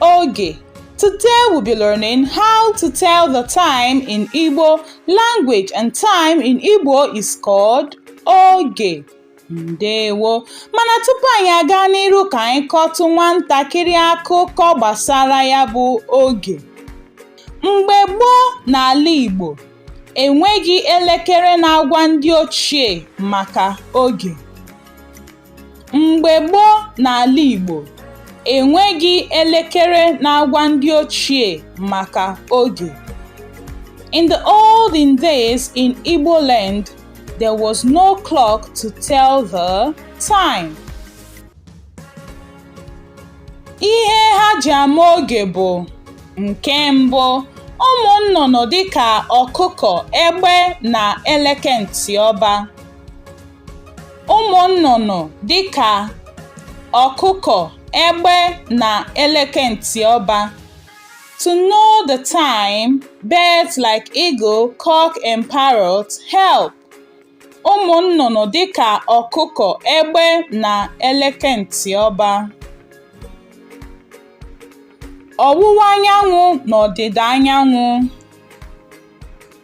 Oge Today we'll be learning how to tell the time in Igbo language and time in Igbo is called oge. Ndewo mana tupu anyị aga n'iru ka anyị kọtụ nwantakịrị akụkọ gbasara ya bụ oge. Mgbe gboo n'ala Igbo, enweghị elekere na-agwa ndị ochie maka oge. Mgbe gboo n'ala Igbo, e nweghị elekere na-agwa ndị ochie maka oge. In the olden days in Igbo land, there was no clock to tell the time. Ihe ha ji ama oge bụ nke mbụ ụmụ nnụnụ dịka ọkụkọ, egbe na eleke ntị ọba. ụmụ nnụnụ dịka ọkụkọ egbe na eleke ntị ọba To know the time, birds like eagle, cock and parrot help. Ụmụ nnụnụ dịka ọkụkọ, egbe na eleke ntị ọba. Ọwụwa anyanwụ na ọdịda anyanwụ.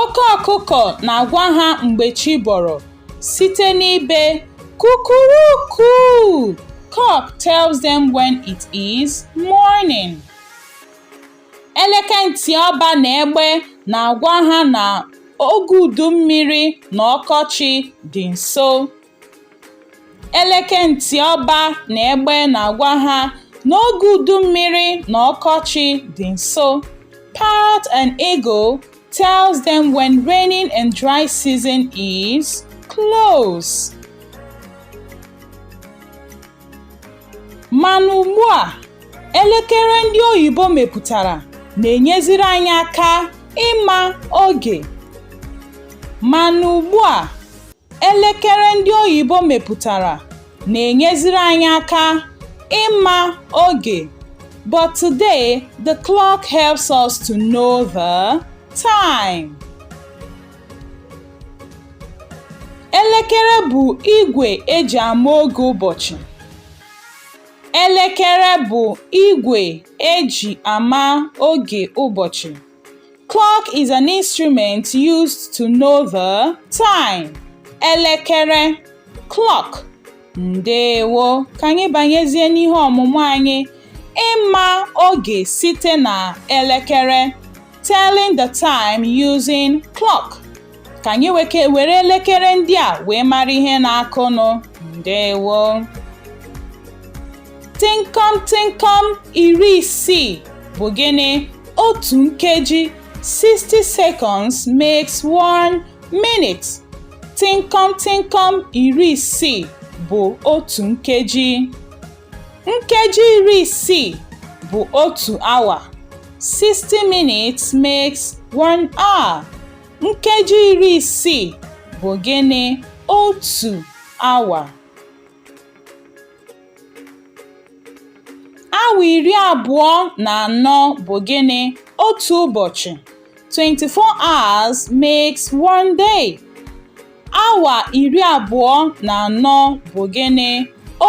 oke ọkụkọ na-agwa ha mgbe chi bọrọ site n'ibe kukuruku cock tells them when it is morning. Eleke ntị ọba na egbe na-agwa ha na oge udu mmiri na ọkọchị dị nso. Eleke ntị ọba na egbe na-agwa ha na oge udu mmiri na ọkọchị dị nso. Parrot and eagle tells them when raining and dry season is close. Mana ugbu a, elekere ndị oyibo mepụtara na-enyeziri anyị aka ịma oge. Mana ugbu a, Elekere ndị oyibo mepụtara na-enyeziri anyị aka ịma oge but today the clock helps us to know the time. Elekere bụ igwe eji ama oge ụbọchị. Elekere bụ igwe eji ama oge ụbọchị. Clock is an instrument used to know the time. Elekere clock. Ndewo. Ka anyị banyezie n'ihe ọmụmụ anyị. Ịma oge site na elekere. Telling the time using clock. ka anyị weke were elekere ndị a wee mara ihe na-akụnụ ndewo tịnkọm tịnkọm iri isii bụ gịnị otu nkeji 60 seconds makes one minute tịnkọm tịnkọm iri isii bụ otu nkeji nkeji iri isii bụ otu awa 60 minutes makes one hour Nkeji iri isii bụ gịnị? Otu awa. Awa iri abụọ na anọ bụ gịnị? Otu ụbọchị. 24 hours makes one day. Awa iri abụọ na anọ bụ gịnị?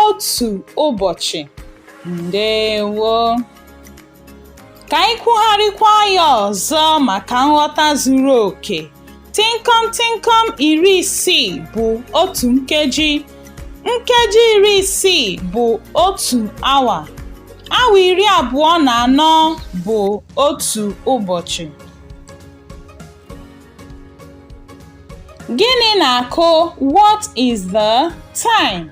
Otu ụbọchị. Ndewo. Ka anyị kwugharịkwa ya ọzọ maka nghọta zuru oke. Tịnkọm tịnkọm iri isii bụ otu nkeji. Nkeji iri isii bụ otu awa. Awa iri abụọ na anọ bụ otu ụbọchị. Gịnị na-akụ? What is the time?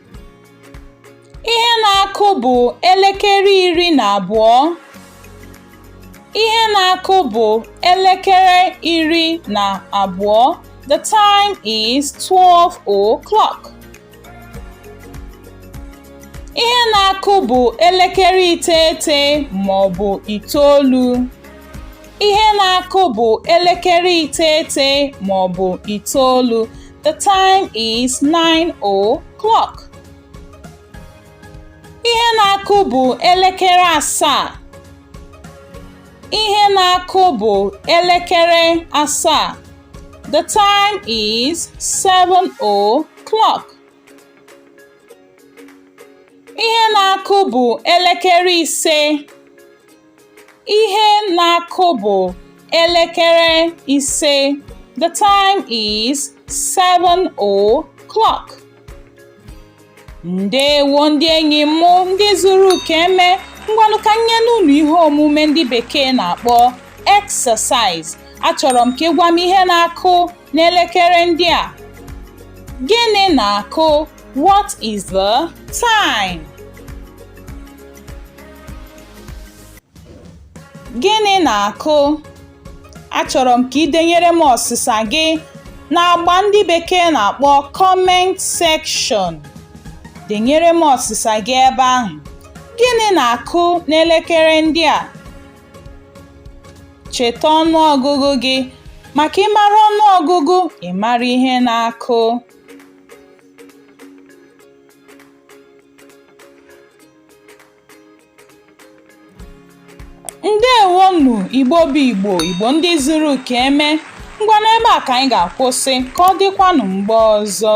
Ihe na-akụ bụ elekere iri na abụọ. Ihe na-akụ bụ elekere iri na abụọ. The time is 12 o'clock. Ihe na-akụ bụ elekere iteghete ma ọ bụ itoolu. ihe na-akụ bụ elekere iteghete ma ọ bụ itoolu the time is 9 o'clock ihe na-akụ bụ elekere asaa ihe na-akụ bụ elekere asaa the time is 7 o'clock ihe na-akụ bụ elekere ise Ihe na-akụ bụ elekere ise. The time is seven o'clock. Ndewo ndị enyi m ndị zuru ka e mee ngwanụ ka m nye unu ihe omume ndị bekee na-akpọ exercise. Achọrọ m ka ị gwa m ihe na-akụ n'elekere ndị a. Gịnị na-akụ? What is the time? Gịnị na-akụ? Achọrọ m ka i denyere m ọsịsa gị n'agba ndị bekee na-akpọ comment section. Denyere m ọsịsa gị ebe ahụ. Gịnị na-akụ n'elekere ndị a? Cheta ọnụọgụgụ gị. Maka ị mara ọnụọgụgụ, ị mara ihe na-akụ. ndewonụ igbo bụ igbo igbo ndị zuru ka e mee ngwa n'ebe a ka anyị ga-akwụsị ka ọ dịkwanụ mgbe ọzọ